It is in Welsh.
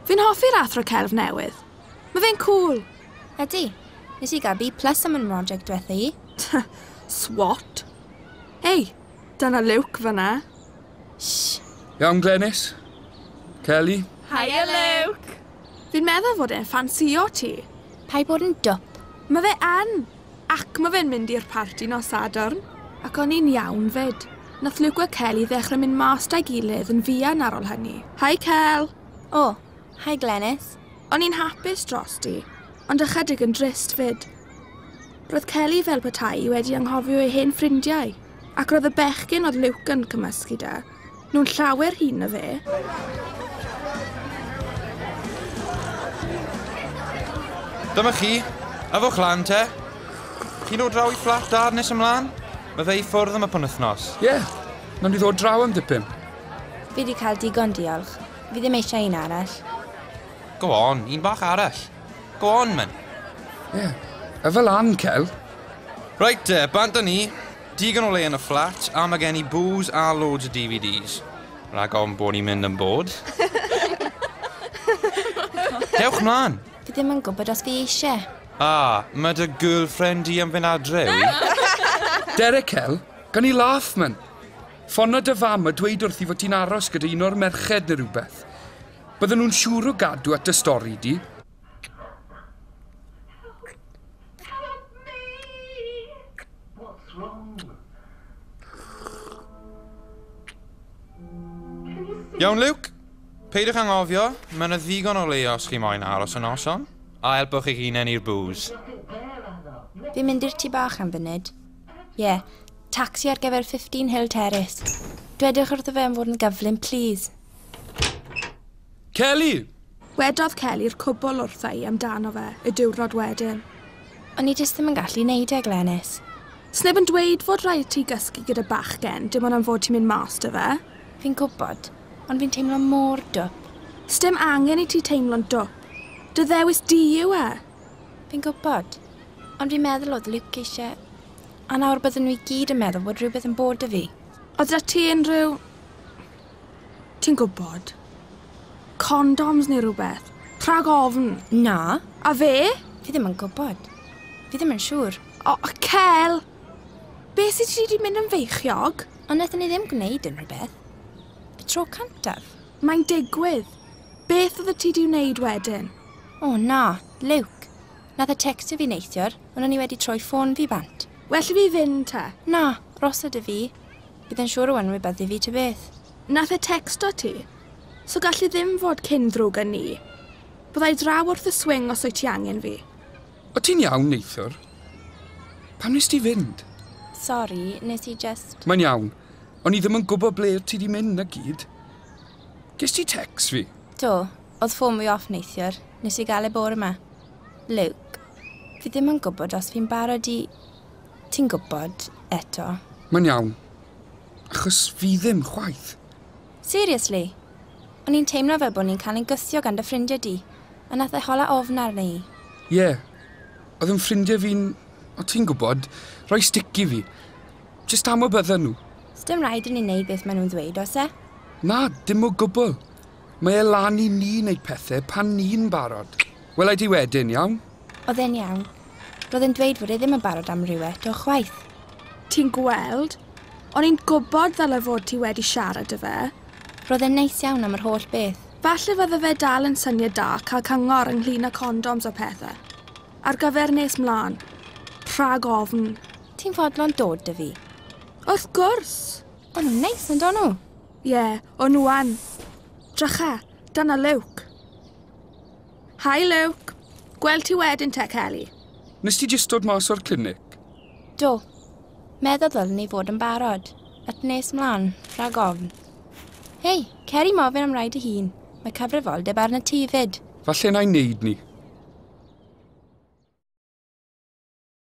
Fi'n hoffi'r athro celf newydd. Mae fe'n cool. Ydy. Nes i gael B plus am yn mroject diwetha i. Swat? Ei, dyna Luke fyna. Shh. Iawn, Glenys. Kelly. Hiya, Luke. Fi'n meddwl fod e'n ffansio ti. Pai bod yn dwp. Mae fe yn! Ac ma fe'n mynd i'r parti nos Sadwrn. Ac o'n i'n iawn 'fyd. Nath Luke a Kelly ddechre mynd mas 'da'i gilydd yn fuan ar ol hynny. Hi Kel! O! Hi Glenys! O'n i'n hapus drosti, ond ychydig yn drist 'fyd. Roedd Kelly fel petai 'i wedi anghofio ei hen ffrindiau, ac roedd y bechgyn oedd Luke yn cymysgu 'da, Nhw'n llawer hŷn na fe. Dyma chi. Yfwch lan, te. Chi'n dod draw i fflat dad nes ymlaen? Mae fe i ffwrdd am y penwythnos. Ie, yeah. nawn ni ddod draw am dipyn. Fi wedi cael digon, diolch. Fi ddim eisiau un arall. Go on, un bach arall. Go on, men. Ie, yeah. yfel lan, Cel. Reit te, bant â ni. Digon o le yn y fflat a mae gen i bŵs a loads o DVDs. Rhag ofn bod ni'n mynd yn bored. Dewch 'mlan! Fi ddim yn gwybod os fi eisiau. A, mae dy girlfriend di am fynd adre, wi? Derek Kell, gawn ni laff, man? Ffonio dy fam a dweud wrthi fod ti'n aros gyda un o'r merched neu rhywbeth. Bydden nhw'n siŵr o gadw at dy stori di. Iawn, Luke. Peidiwch angofio, mae yna ddigon o leia os chi moyn aros y noson, a helpwch eich hunain i'r bŵs. Fi'n mynd i'r tu bach am funud. Ie, yeah, taxi ar gyfer 15 Hill Terrace. Dwedwch wrtho fe am fod yn gyflym, please. Kelly! Wedodd Kelly i'r cwbl wrtha i amdano fe y diwrnod wedyn. O'n i jyst ddim yn gallu neud e, Glenys. Sneb yn dweud fod rhaid ti gysgu gyda bachgen, dim ond am fod ti'n mynd mas 'da fe. Fi'n gwbod, ond fi'n teimlo mor dwp. Sdim angen i ti teimlo'n dwp. Dy ddewis di yw e! Fi'n gwbod, ond fi'n meddwl oedd Luke eisiau... A nawr bydden nhw i gyd yn meddwl bod rhywbeth yn bod 'da fi. Oedd 'da ti unrhyw... Ti'n gwybod. Condoms neu rhywbeth. Rhag ofn. Na. A fe? Fi ddim yn gwybod. Fi ddim yn siŵr. O, oh, Cel! Be sy ti wedi mynd yn feichiog? Ond wnaethon ni ddim gwneud unrhyw beth. Y tro cantaf. Mae'n digwydd. Beth oedd y ti di wneud wedyn? O oh, na, Luke. Nath y textio fi neithiwr, ond o'n i wedi troi ffôn fi bant. Well i fi fynd te. Na, rosa dy fi. Bydd e'n siŵr o enwi beth i fi ta beth. Nath e tecsto ti? So gall e ddim fod cyn ddrwg a ni. Bydda i draw wrth y swing os wyt ti angen fi. O ti'n iawn neithiwr? Pam nes ti fynd? Sori, nes i jyst. Mae'n iawn. O'n i ddim yn gwybod ble wyt ti di mynd na gyd. Ges ti tecs fi? Do, oedd ffôn fi off neithiwr. Nes i gael e bore ma. Luke, fi ddim yn gwybod os fi'n barod i... Ti'n gwybod, eto. Mae'n iawn. Achos fi ddim, chwaith. Seriously? O'n i'n teimlo fel bod ni'n cael ein gwthio gan dy ffrindiau di, a nath e hola ofn arna i. Ie. Oedd yn ffrindiau fi'n, o ti'n gwybod, rhoi stick i fi. Jyst am y bydden nhw. Sdim rhaid i ni wneud beth maen nhw'n ddweud, oes e? Na, dim o gwbl. Mae e lan i ni wneud pethau pan ni'n barod. Wela i ti wedyn, iawn? Oedd e'n iawn. Roedd e'n dweud fod e ddim yn barod am ryw eto chwaith. Ti'n gweld? O'n i'n gwybod ddyle fod ti wedi siarad â fe. Roedd e'n neis iawn am yr holl beth. Falle fydde fe dal yn syniad da cael cyngor ynglŷn â condoms a pethau. Ar gyfer nes mlaen. Rhag ofn. Ti'n fodlon dod 'da fi? Wrth gwrs! O'n nhw'n neis, yn do nhw? Ie, o'n nhw yn. Drycha, dyna Luke. Hi, Luke. Gweld ti wedyn te, Kelly. Nes ti jyst dod mas o'r clinic? Do. Meddwl ddylwn ni fod yn barod. At nes mlaen, rhag ofn. Hei, cer i mofyn am rai dy hun. Mae cyfrifoldeb arna ti fyd. Falle na i wneud ni.